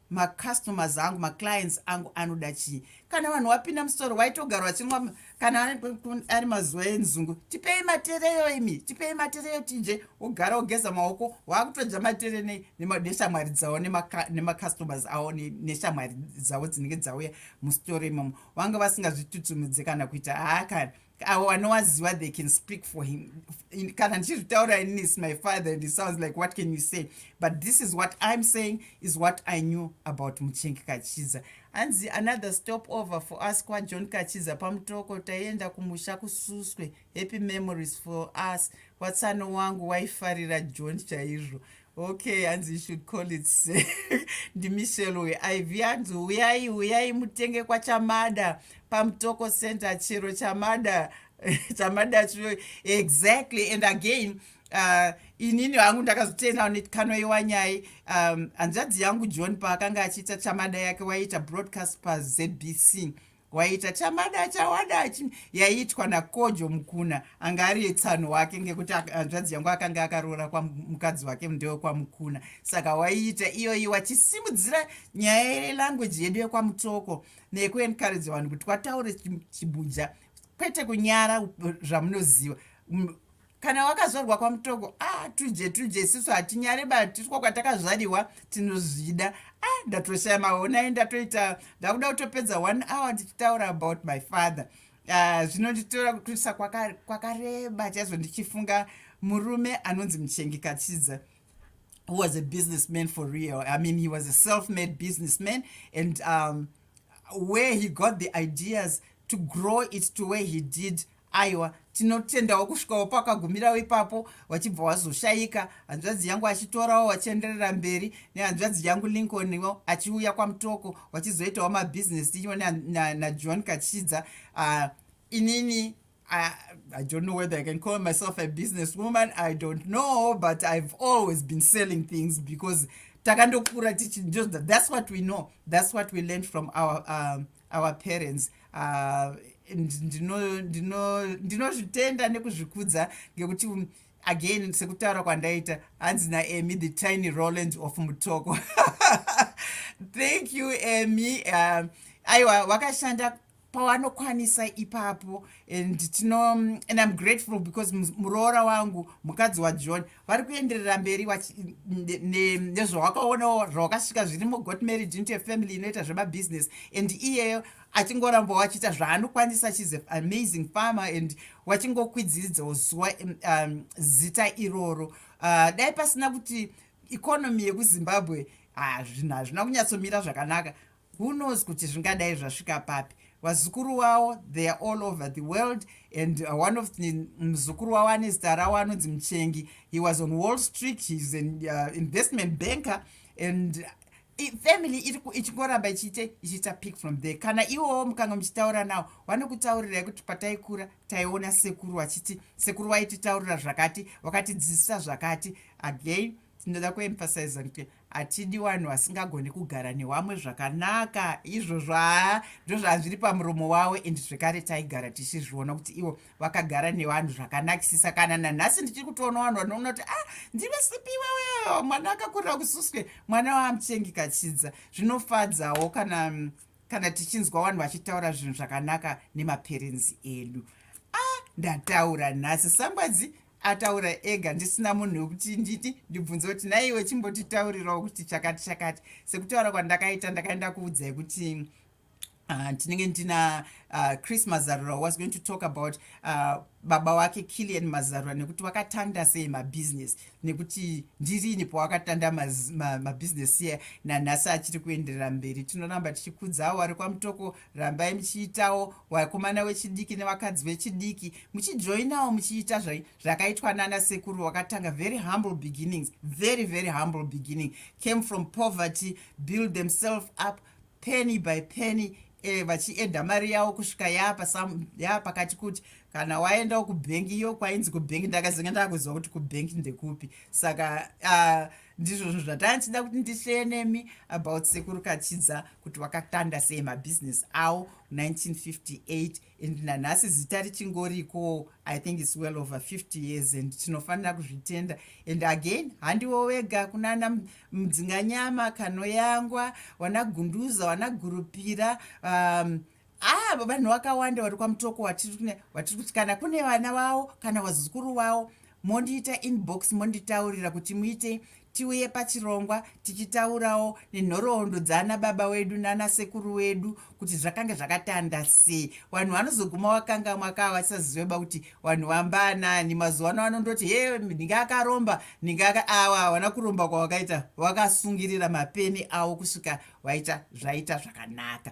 macustomers angu maclients angu anoda chii kana vanhu wapinda musitoro waitogara wachinwa kana ari mazuva enzungu tipei matereyo imi tipei matereyo tije wogara wogeza maoko waakutodya matere neshamwari dzavo nemacustomers avo neshamwari dzavo dzinenge dzauya musitoro imomo vanga vasingazvitutumidze kana kuita haa kana awo anowaziva they can speak for him kana ndichizvitaura inini is my father and it sounds like what can you say but this is what i'm saying is what i knew about muchengi kachiza hanzi another stop over for us kwajohn kachiza pamutoko taienda kumusha kususwe happy memories for us watsano wangu waifarira john chaizvo okay hanzi you should call it ndimichel weiv hanzi uyai uyai mutenge kwachamada pamutoko center chero chamada chamada chiro exactly and again uh, inini hangu ndakazotenda nekanoiwa nyai um, hanzvadzi yangu john paakanga achiita chamada yake waiita broadcast pazbc waita chamada chawada yaiitwa nakojo mukuna anga ari yetsano wake ngekuti hanzvadzi yangu akanga akaroora kwamukadzi wake ndewe kwamukuna saka waiita iyoyi wachisimudzira nyaya yelanguage yedu yekwamutoko nekuencourage vanhu kuti wataure chibuja kwete kunyara zvamunoziva kana wakazvarwa kwamutoko a ah, tuje tuje isisu hatinyare batiswa kwatakazvariwa tinozvida a ah, ndatoshaya maonai ndatoita ndakuda kutopedza one hour ndichitaura about my father ah, zvinonditora kutwisa kwakareba chaizvo ndichifunga murume anonzi muchengi kachidza who was a businessman for real i mean he was a self made businessman and um, where he got the ideas to grow it to where he did aiwa tinotendawo kusvikawo pakagumirawo ipapo wachibva wazoshayika hanzvadzi yangu achitorawo wachienderera mberi nehanzvadzi yangu lincolniwo achiuya kwamutoko wachizoitawo mabhizinesi tichiwa najohn na, na kachidza uh, inini I, I don't know whether I can call myself a business woman. I don't know, but I've always been selling things because takandokura tichi just that's what we know that's what we learned from our um, our parents uh, ndinozvitenda nekuzvikudza ngekuti um, again sekutaura kwandaita hanzi naemi the tiny roland of mutoko thank you emy uh, aiwa wakashanda pawanokwanisa ipapo and tino and im grateful because muroora wangu mukadzi wajohn vari kuenderera mberi nezvawakaonawo zvawakasvika zvirimo got married into a family inoita zvemabusiness and iyeyo achingoramba wachiita zvaanokwanisa shes a amazing farmer and wachingokwidziridzawo zuva um, um, zita iroro uh, dai pasina kuti economy yekuzimbabwe ah, zvinhu hazvina kunyatsomira zvakanaka who knows kuti zvingadai zvasvika papi vazukuru wavo they are all over the world and uh, one of the muzukuru wavo ane zita ravo anonzi muchengi he was on wall street heis an uh, investment banker and uh, family ichingoramba ichiite ichiita pick from there kana iwowo mukanga muchitaura nawo vanokutaurirai kuti pataikura taiona sekuru vachiti sekuru vaititaurira zvakati vakatidzidzisa zvakati again tinoda kuemphasiza kuti hatidi vanhu vasingagoni kugara newamwe zvakanaka izvozvo haa ndozvazviri pamuromo wavo and zvekare taigara tichizviona kuti ivo vakagara nevanhu zvakanakisisa kana nanhasi ndichiri kutoona vanhu vanoona kuti ah ndive sipi iwewe mwana akakurira kususwe mwana waamuchengi kachidza zvinofadzawo kana kana tichinzwa vanhu vachitaura zvinhu zvakanaka nemaperenzi edu ah ndataura nhasi sangwadzi ataura ega ndisina munhu wekuti nditi ndibvunze kuti naiwe chimbotitaurirawo kuti chakati chakati sekutaura kwandakaita ndakaenda kuudzai kuti ah, tinenge uh, ndina uh, chris mazarura was going to talk about uh, baba wake killian mazarura nekuti wakatanda sei mabusiness nekuti ndirini pawakatanda mabusiness ma, ma iye nanhasi achiri kuenderera mberi tinoramba tichikudzawo ari kwamutoko rambai muchiitawo wakomana wechidiki nevakadzi vechidiki muchijoinawo muchiita zvakaitwa nana sekuru wakatanga very humble beginnings very very humble beginning came from poverty build themselves up penny by penny e, vachienda mari yavo kusvika yaa pakati kuti kana waendawo kubhengi iyo kwainzi kubhengi ndakazenge ndakuziva kuti kubhengi ndekupi saka uh, ndizvo zvinhu zvatanga ndichida kuti ndisheye nemi about sekuru kachidza kuti wakatanda sei mabhizinesi awo 1958 and nanhasi zita richingorikowo i think its well over 50 years and tinofanira kuzvitenda and again handiwo wega kunana mudzinganyama kanoyangwa wanagunduza wanagurupira um, haa ah, vanhu vakawanda vari kwamutoko vatiri kuti kana kune vana vavo kana vazukuru vavo mondiita inbox monditaurira kuti muite tiuye pachirongwa tichitaurawo nenhoroondo dzaana baba wedu nana sekuru wedu kuti zvakange zvakatanda sei vanhu vanozoguma vakanga mwakaa vasaziveba kuti vanhu vambanani mazuva ano vanondoti he ndinge akaromba ndinge aka awa havana kuromba kwavakaita vakasungirira mapeni avo kusvika vaita zvaita zvakanaka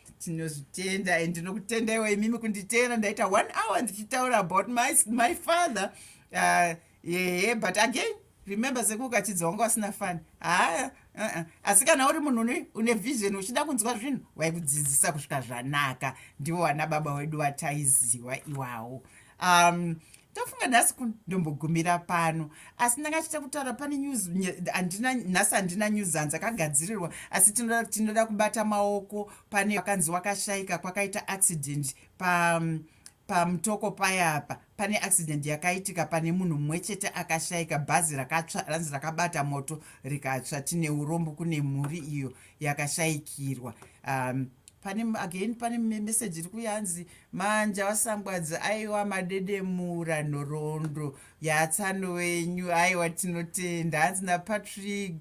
tinozvitenda and ndinokutendaiwo imimi kunditenda ndaita one hour ndichitaura about my, my father uh, yee but again remember sekuka achidzi wanga wasina fani haa uh -uh. asi kana uri munhu une vision uchida kunzwa zvinhu waikudzidzisa kusvika zvanaka ndivo vana baba wedu vataiziwa iwawo um ndofunga nhasi kundombogumira pano asi ndanga achita kutaura pane news andina nhasi handina news hanzi akagadzirirwa asi tinoda tinoda kubata maoko pane vakanzi wakashaika kwakaita accident pa um, pamutoko paya apa pane accident yakaitika pane munhu mumwe chete akashaika bhazi rakatsva ranzi rakabata moto rikatsva tine urombo kune mhuri iyo yakashaikirwa um, pane again pane message iri kuyanzi manja wasangwadza aiwa madedemura nhoroondo yatsano wenyu aiwa tinotenda hanzi napatrick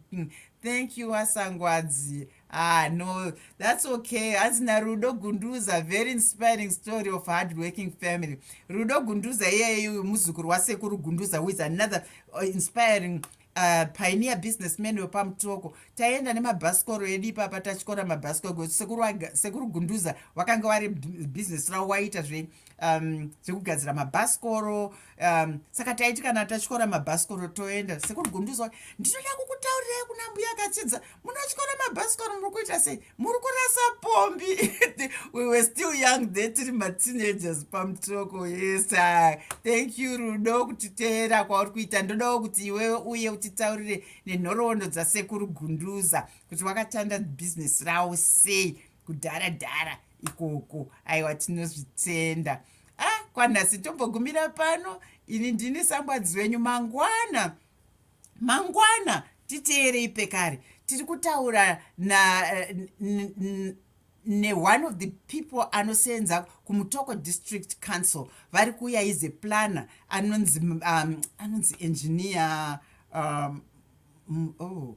thank you wasangwadzi ah no that's okay hanzi narudo gunduza very inspiring story of hard working family rudo gunduza iyeyu muzukuru wasekuru gunduza who is another uh, inspiring uh, pioneer businessman wepamutoko taienda nemabhasikoro edu ipapa tatyora mabhasikoro sekuru gunduza wakanga wari business ravo waiita zve um, zvekugadzira mabhasikoro um, saka taiti kana tatyora mabhasikoro toenda sekuru gunduza ndinoda kukutaurirai kuna mbuya akatsidza munotyora mabhasikoro muri kuita sei muri kurasa pombi we were still young de tiri mateenagers pamutoko yes thank you rudo kutiteera kwauri kuita ndodawo kuti iwewe uye utitaurire nenhoroondo dzasekuru gunduza kuti wakatanda bhizinesi rawo sei kudhara dhara ikoko aiwa tinozvitenda ah kwanhasi tombogumira pano ini ndini sambwadzi wenyu mangwana mangwana titeerei pekare tiri kutaura na eh, neone of the people anoseenza kumutoko district council vari kuuya ize planner anonzi um, anonzi engineer um, mm, oh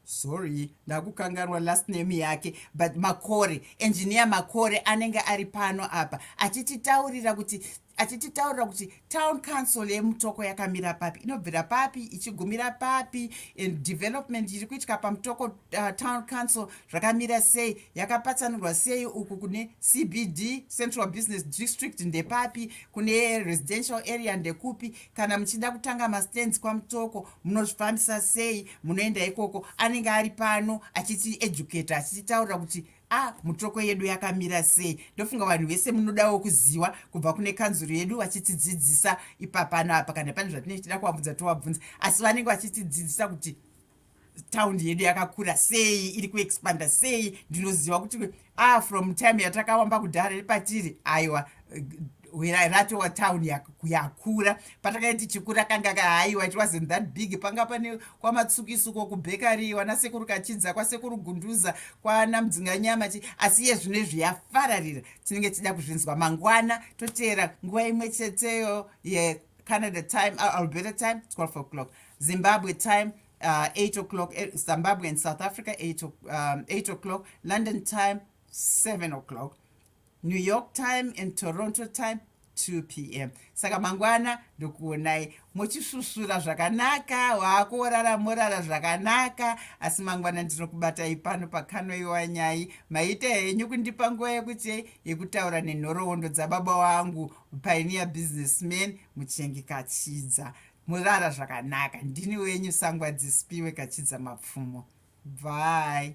sorry ndakukanganwa last name yake but makore engineer makore anenge ari pano apa achititaurira kuti achititaurira kuti town council yemutoko yakamira papi inobvira papi ichigumira papi and development iri kuitika pamutoko uh, town council zvakamira sei yakapatsanurwa sei uku kune cbd central business district ndepapi kune residential area ndekupi kana muchida kutanga mastands kwamutoko munozvifambisa sei munoenda ikoko anenge ari pano achiti educate achititaurira kuti ah mutoko yedu yakamira sei ndofunga vanhu vese munodawo kuziwa kubva kune kanzuru yedu vachitidzidzisa ipapano apa kana pane zvatinenge tichida kuvabvunza tovabvunza asi vanenge vachitidzidzisa kuti taundi yedu yakakura sei iri kuexpanda sei ndinoziva kuti ah from time yatakawamba kudhara repatiri aiwa rato wa town yakura patakanga tichikura kanga kahaiwa it wasn't that big panga pane kwamatsukisuko kubhekari wana sekuru kachidza kwasekuru gunduza kwana mudzinganyama chi asi iye zvino izvi yafararira tinenge tichida kuzvinzwa mangwana toteera nguva imwe cheteyo yecanada time uh, alberta time 12 o'clock zimbabwe time uh, 8 o'clock eh, zimbabwe and south africa 8 um, o'clock london time 7 o'clock New York time and Toronto time 2 pm saka mangwana ndokuonai muchisvusvura zvakanaka waakuorara morara zvakanaka asi mangwana ndinokubatai pano pakanoiwa nyai maita henyu kundipa nguva yekuti yekutaura nenhoroondo dzababa wangu pioneer businessman muchengi kachidza morara zvakanaka ndini wenyu sangwa dzisipiwe kachidza mapfumo bvai